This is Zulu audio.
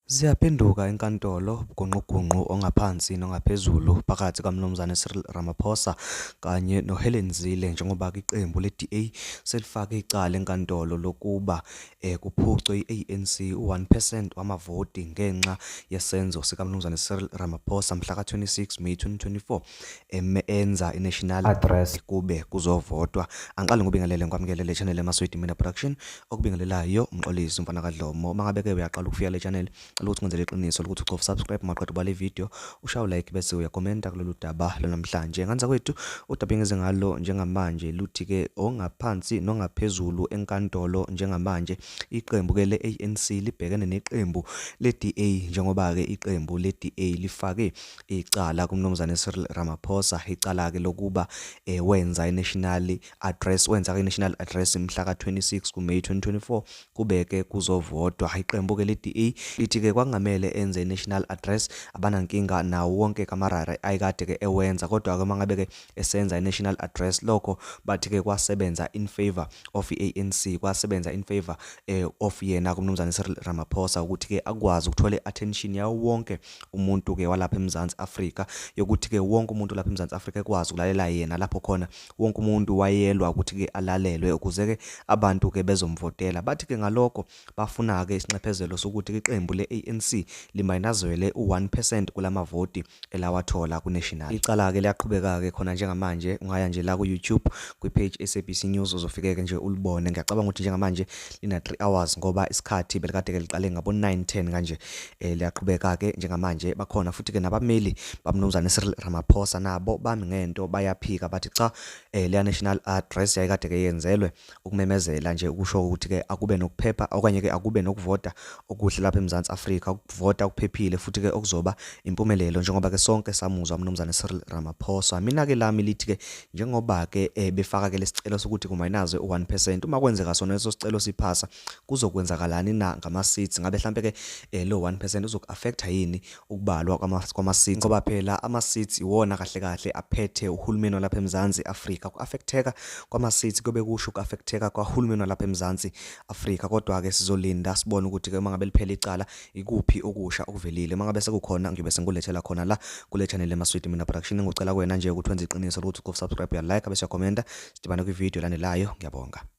Ziyaphenduka enkantolo ubugungqugungqu ongaphansi nongaphezulu phakathi kaMnumzane Cyril Ramaphosa kanye noHelen Zille njengoba iqembu le-DA selifake icala enkantolo lokuba eh, kuphucwe i-ANC u-1 percent wamavoti ngenxa yesenzo sikaMnumzane Cyril Ramaphosa mhla ka-26 May 2024. eme enza i-national address kube kuzovotwa angiqale ngobingelele ngikwamukele le channel emaswidi mina production okubingelelayo umxolisi umfana kadlomo uma ngabe ke uyaqala ukufika le channel cela ukuthi ngenzele iqiniso lokuthi ucofa subscribe maqeda ubale video ushawu like bese uyakomenta kulolu daba lwanamhlanje nganza kwethu udaba engeze ngalo njengamanje luthi ke ongaphansi nongaphezulu enkantolo njengamanje iqembu ke le-ANC libhekene neqembu le-DA njengoba ke iqembu le-DA lifake icala kuMnumzane Cyril Ramaphosa icala-ke lokuba eh, wenza i-national address wenza i-national address mhla ka-26 kuMay 2024 kube-ke kuzovotwa iqembu-ke le-DA lithi-ke kwakungamele enze i-national address abanankinga nawo wonke kamarara ayikade-ke ewenza kodwa-ke uma ngabe-ke esenza i-national address lokho bathi-ke kwasebenza in favor of i-anc kwasebenza in favor eh, of yena kuMnumzane Cyril Ramaphosa ukuthi-ke akwazi ukuthola i-attention yawo wonke umuntu ke walapha eMzansi Afrika yokuthi ke wonke umuntu lapha eMzansi Afrika ekwazi ukulalela yena lapho khona wonke umuntu wayelwa ukuthi ke alalelwe ukuze ke abantu ke bezomvotela bathi ke ngalokho bafuna ke isinxephezelo sokuthi iqembu leANC limayinazwele u1% kulamavoti elawathola kuNational icala ke liyaqhubeka ke khona njengamanje ungaya nje la ku YouTube kwi page SABC News uzofikeke nje ulibone ngiyacabanga ukuthi njengamanje ina 3 hours ngoba isikhathi belikade ke liqale ngabo 9:10 kanje eh, liyaqhubeka ke njengamanje bakhona futhi ke nabameli bamnumzane Cyril Ramaphosa nabo bami ngento bayaphika bathi cha eh, le national address yayikade ke yenzelwe ukumemezela nje ukusho ukuthi ke akube nokuphepha okanye ke akube nokuvota okuhle lapha eMzansi Afrika ukuvota kuphephile futhi ke okuzoba impumelelo njengoba ke sonke samuzwa umnumzane Cyril Ramaphosa mina ke lami lithi ke njengoba ke eh, befaka ke lesicelo sokuthi kumayinaze u1% uma kwenzeka sona leso sicelo siphasa kuzokwenzakalani na ngama seats ngabe mhlambe ke eh, lo 1% uzok affect yini ukubalwa kwama kwama seats ngoba phela ama seats iwona kahle kahle aphethe uhulumeni lapha eMzansi Afrika ku affecteka kwama seats kube kusho ku affecteka kwahulumeni lapha eMzansi Afrika kodwa-ke sizolinda sibone ukuthi-ke uma ngabe liphela icala ikuphi okusha okuvelile uma ngabe sekukhona ngiyobe sengikulethela khona la kule channel emaswidi mina production engicela kuwena nje ukuthi wenze iqiniso lokuthi uqofa subscribe uyalike bese uyakhomenta sidibane kwividiyo elandelayo ngiyabonga